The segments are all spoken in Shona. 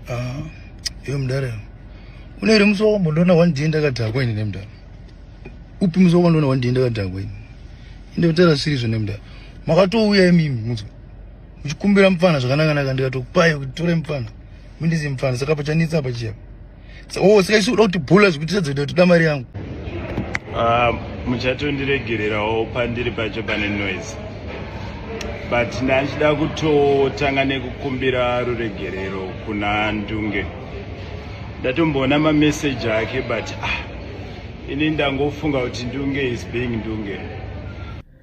Ah, iyo mdara une iri musi wakambonoona one day ndakadhakwa ini nemdara upi musi wakambonoona one day ndakadhakwa ini ende mdara sirizvo nemdara makatouya imimi muzi muchikumbira mupfana zvakanakanaka ndikatokupai kuti tore mupfana mindizi mupfana saka pachanetsa apa chiyapa oh, saka isu uda kuti bhula zvekuti tadza kuita kutoda mari yangu ah, muchatondiregererawo pandiri pacho pane noise but ndachida kutotanga nekukumbira ruregerero kuna ndunge ndatomboona mameseji ake but ah, ini ndangofunga kuti ndunge is being ndunge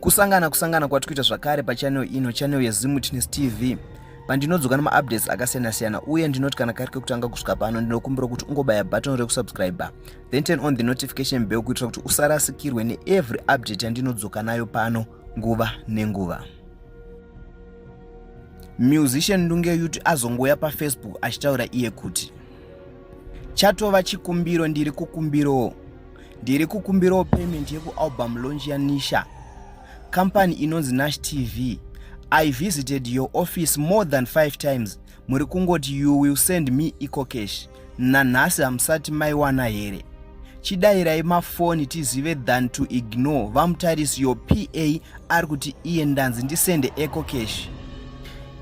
kusangana kusangana kwati kuita zvakare pachanel ino chanel yezimwitness tv pandinodzoka nemaupdates akasiyana-siyana uye ndinoti kana kari kekutanga kusvika pano ndinokumbira kuti ungobaya button rekusubscriber then turn on the notification bell kuitira kuti usarasikirwe neevery update yandinodzoka nayo pano nguva nenguva musician ndunge yuti azongouya pafacebook achitaura iye kuti chatova chikumbiro ndiri kukumbirowo ndiri kukumbirawo payment yekualbum launch yanisha company inonzi nash tv i visited your office more than five times muri kungoti you will send me eco cash nanhasi hamusati maiwana here chidairai mafoni tizive than to ignore vamutarisi your pa ari kuti iye ndanzi ndisende eco cash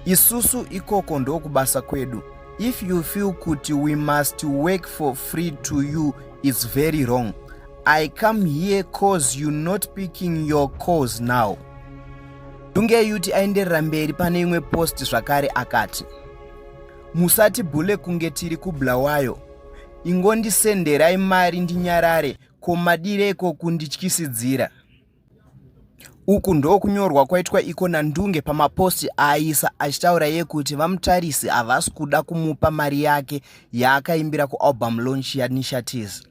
isusu ikoko ndokubasa kwedu if you feel kuti we must work for free to you it's very wrong i come here cause you not picking your cause now dunge yuti aenderera mberi pane imwe post zvakare akati musati bhule kunge tiri kubulawayo ingondisenderai mari ndinyarare ko madireko kundityisidzira Uku ndokunyorwa kwaitwa iko naNdunge pamapost aaisa achitaura yekuti VaMutarisi havasi kuda kumupa mari yake yaakaimbira kualbum launch yaNisha Tears.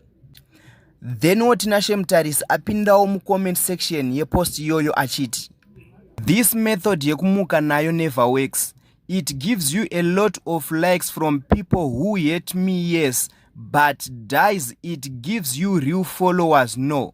Then woTinashe Mutarisi apindawo mucomment section yepost iyoyo achiti This method yekumuka nayo never works. It gives you a lot of likes from people who hate me yes but dies it gives you real followers no.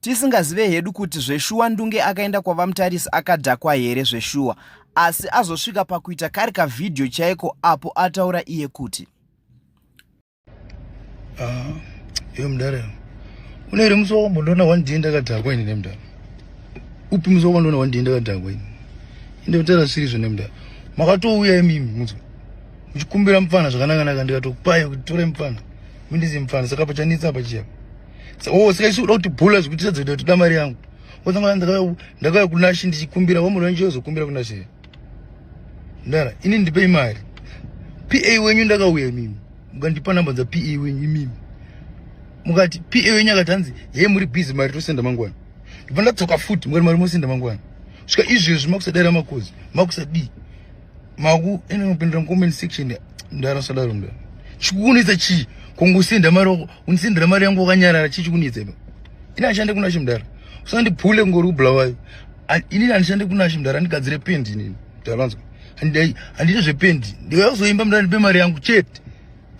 tisingazive hedu kuti zveshuwa ndunge akaenda kwavamutarisi akadhakwa here zveshuwa asi azosvika pakuita kari kavhidhiyo chaiko apo ataura iye kuti ah, iyo mudare une here musi wakambonoona one day ndakadhakwa ini nemudare upi musi wakambonoona one day ndakadhakwa ini inde kutaura sirizvo nemudare makatouya imimi muzo muchikumbira mupfana zvakanakanaka ndikatokupai kuti tore mupfana mindizi mupfana saka pachanitsa pachiya oh, saka isu uda kuti bhula zvekuti sadzoita kuti uda mari yangu otanga ndakauya kunashi ndichikumbira wamuri wenyu ozokumbira kunashi ndara ini ndipei mari pa wenyu ndakauya imimi mukandipa namba dza pa wenyu imimi mukati pa wenyu akati hanzi hei muri busy mari tosenda mangwana ndibva ndatsoka futi mukati mari mosenda mangwana svika izvezvi makusadara makozi makusadii maku ene unopindira mucomment section ndanosadaro ndo chikunetsa chii kongosenda mari wako unisendera mari yangu wakanyarara chii chikunetsa ipa ini ashande kuna chimdara usandiphule ngori kubulawayo inini handishande kuna chimdara andigadzire pendi inini talanzwa handiite zvependi ndikakuzoimba mdara ndipe mari yangu chete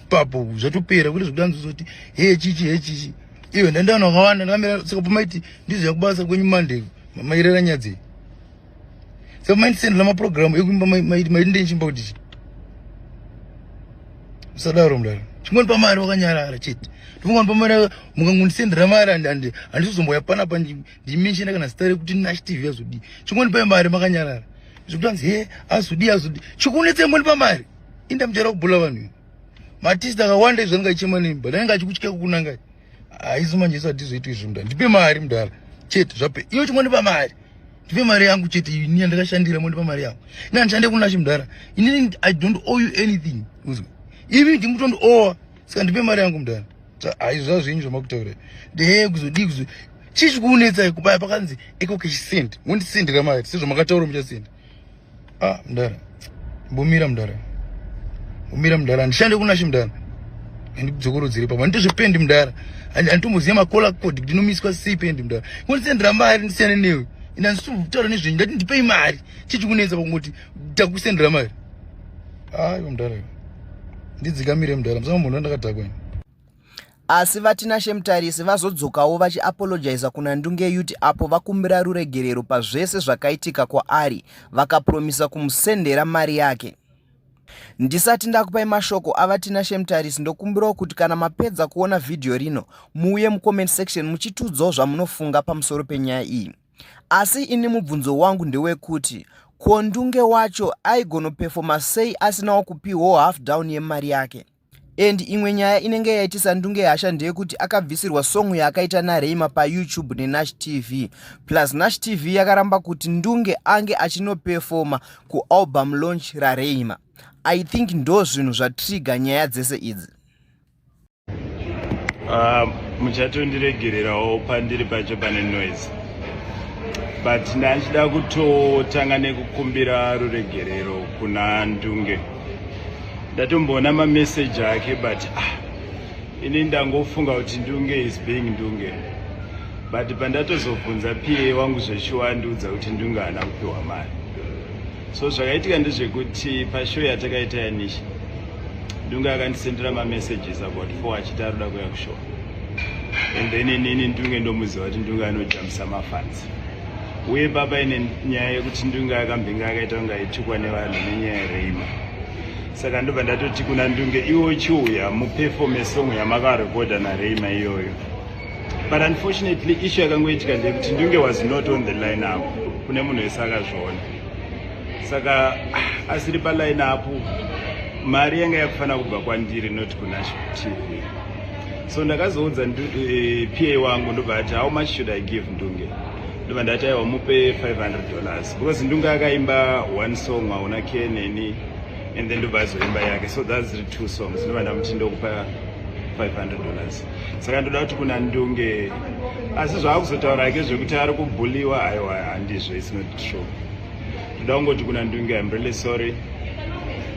papo zvatopera kuti zvekuti anzozoti he chichi he chichi iyo ndandaona wakawanda ndakamira saka pamaiti ndizoya kubasa kwenyu mande mairera nyadzei semaindisend lamapurogiramu ekuimba maindindenchimba kuti chi usadaro mdaro chingoni pamari wakanyarara chete ndimungoni pamari mukangondisendera mari handizozomboya panapa ndimenshena kana zita rekuti nash tv azodii chingoni pai mari makanyarara zvekuti anzi he azodii azodii chikunetsa ingoni pamari inda muchara kubhula vanhu matist akawanda izvanenge achichema nemi but anenge achikutya kukunangai haisu manje isu hatizoitwa izvi mdara ndipe mari mdara chete zvape iyo chimwe ndipa mari ndipe mari yangu chete ini yandakashandira mo ndipa mari yangu ini handishande kunashi mdara ini i don't owe you anything uzwa ivi ndimutondi owa saka ndipe mari yangu mdara haizo zvazvinyi zvamakutaura dee kuzodii kuzo chii chikunetsai kubaya pakanzi iko kechisend mondisendera mari sezvamakataura muchasenda Ah, mdara. Mbomira mdara. Mbomira mdara. Ndishande kuna shi mdara. Ndidzokoro dziri papa. Ndizvo pendi mdara. Anditomboziya makola code ndinomiswa sei pendi mdara. Kundisendera mari ndisiyane newe. Ina ndisitaura nezvenyu ndati ndipei mari. Chichi kunenza pakungoti takusendera mari. Ah, mdara. Ndidzikamire mdara. Msanga munhu ndakadhakwa. Asi VaTinashe Mutarisi vazodzokawo vachiapologiza kuna Ndungeyuti apo vakumbira ruregerero pazvese zvakaitika kwaari vakapromisa kumusendera mari yake. Ndisati ndakupai mashoko aVaTinashe Mutarisi ndokumbirawo kuti kana mapedza kuona vhidhiyo rino muuye mucomment section muchitiudzawo zvamunofunga pamusoro penyaya iyi. Asi ini mubvunzo wangu ndewekuti ko Ndunge wacho aigonopefoma sei asinawo kupiwo half down yemari yake? And imwe nyaya inenge yaitisa ndunge hasha ndeyekuti akabvisirwa song yaakaita naRayma paYoutube neNash TV. Plus Nash TV yakaramba kuti ndunge ange achinoperforma kualbum launch raRayma. I think ndo zvinhu zvatrigger nyaya dzese idzi. Ah, muchatondiregererawo pandiri pacho pane noise but ndachida kutotanga nekukumbira ruregerero kuna ndunge ndatomboona mameseji ake but ah, ini ndangofunga kuti ndunge is being ndunge but pandatozobvunza pa wangu zveshuwa andiudza kuti ndunge haana kupiwa mari so zvakaitika ndezvekuti pashow yatakaita yanisha ndunge akandisendera mamessages about four achiti aroda kuya kushow and then inini ndunge ndomuziva kuti ndunge anojamisa mafans uye baba ine nyaya yekuti ndunge akambinga akaita kunge aitukwa nevanhu nenyaya yereima saka ndobva ndatoti kuna ndunge iwo chiuya mupefome song yamakarekodha nareima iyoyo but unfortunately issue yakangoitika ndeyekuti ndunge was not on the line apo kune munhu wese akazviona saka ah, asiri paline apo mari yanga yakufanira kubva kwandiri not kunasho tv so ndakazoudza uh, eh, pa wangu ndobva ati how much should i give ndunge ndobva ndati aiwa mupe 500 dollars because ndunge akaimba one song waona ke neni and then ndobva azoimba yake so thats the two songs ndobva ndamuti ndokupa 500 dollars saka ndoda kuti kuna ndunge asi zvaakuzotaura ake zvekuti ari kubhuliwa aiwa handizvo isnot true ndoda kungoti kuna ndunge im really sorry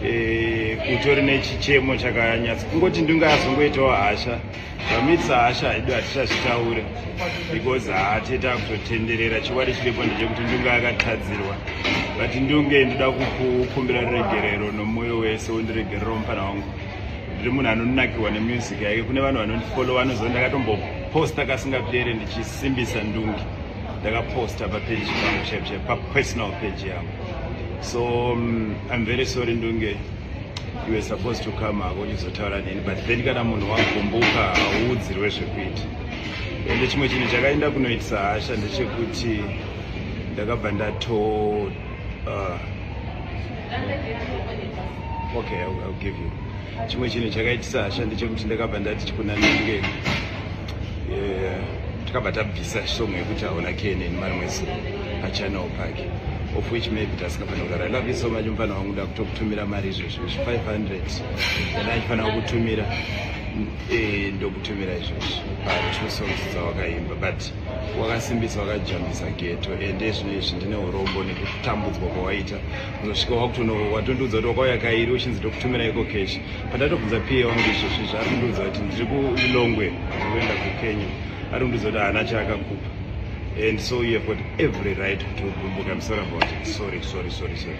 eh, utori nechichemo chakanyatsa kungoti ndunge azongoitawo hasha vamitisa hasha haido hatichazvitaure because haatete akutotenderera chikwadi chiripo ndechekuti ndunge akatadzirwa but ndunge ndoda kukukumbira ruregerero nomoyo wese wondiregerero mupana wangu ndiri munhu anonakirwa nemusic yake kune vanhu vanondifollowa anoziva ndakatomboposta kasingapere ndichisimbisa ndunge ndakaposta papeji pangu chaipo chaipo papersonal page yangu so um, i'm very sorry ndunge you were supposed to come hako uchizotaura neni but then kana munhu wagumbuka hauudzirwe zvekuita ende chimwe chinhu chakaenda kunoitisa hasha ndechekuti ndakabva ndato uh, okay I'll, I'll give you chimwe chinhu chakaitisa hasha ndechekuti ndakabva ndati chikunanenge takabva tabvisa song yekuti hauna kenen mari mwese pachanel pake of which maybe tasingafanira kudaro i love you so much mufana wangu nda kutokutumira mari izvozvo izvi 500 kana achifanira kukutumira eh, ndokutumira izvozvo patwo songs dzawakaimba but wakasimbisa wakajambisa geto ende zvino izvi ndine urombo nekutambudzwa kwawaita unosvika wakutono watondiudza kuti wakauya kairi uchinzi tokutumira iko cash pandatobvunza pa wangu izvozvi zvaari kundiudza kuti ndiri kulilongwe ndikuenda kukenya ari kundiudza kuti haana chaakakupa and so you have got every right to gumbuka msora about it sorry sorry sorry sorry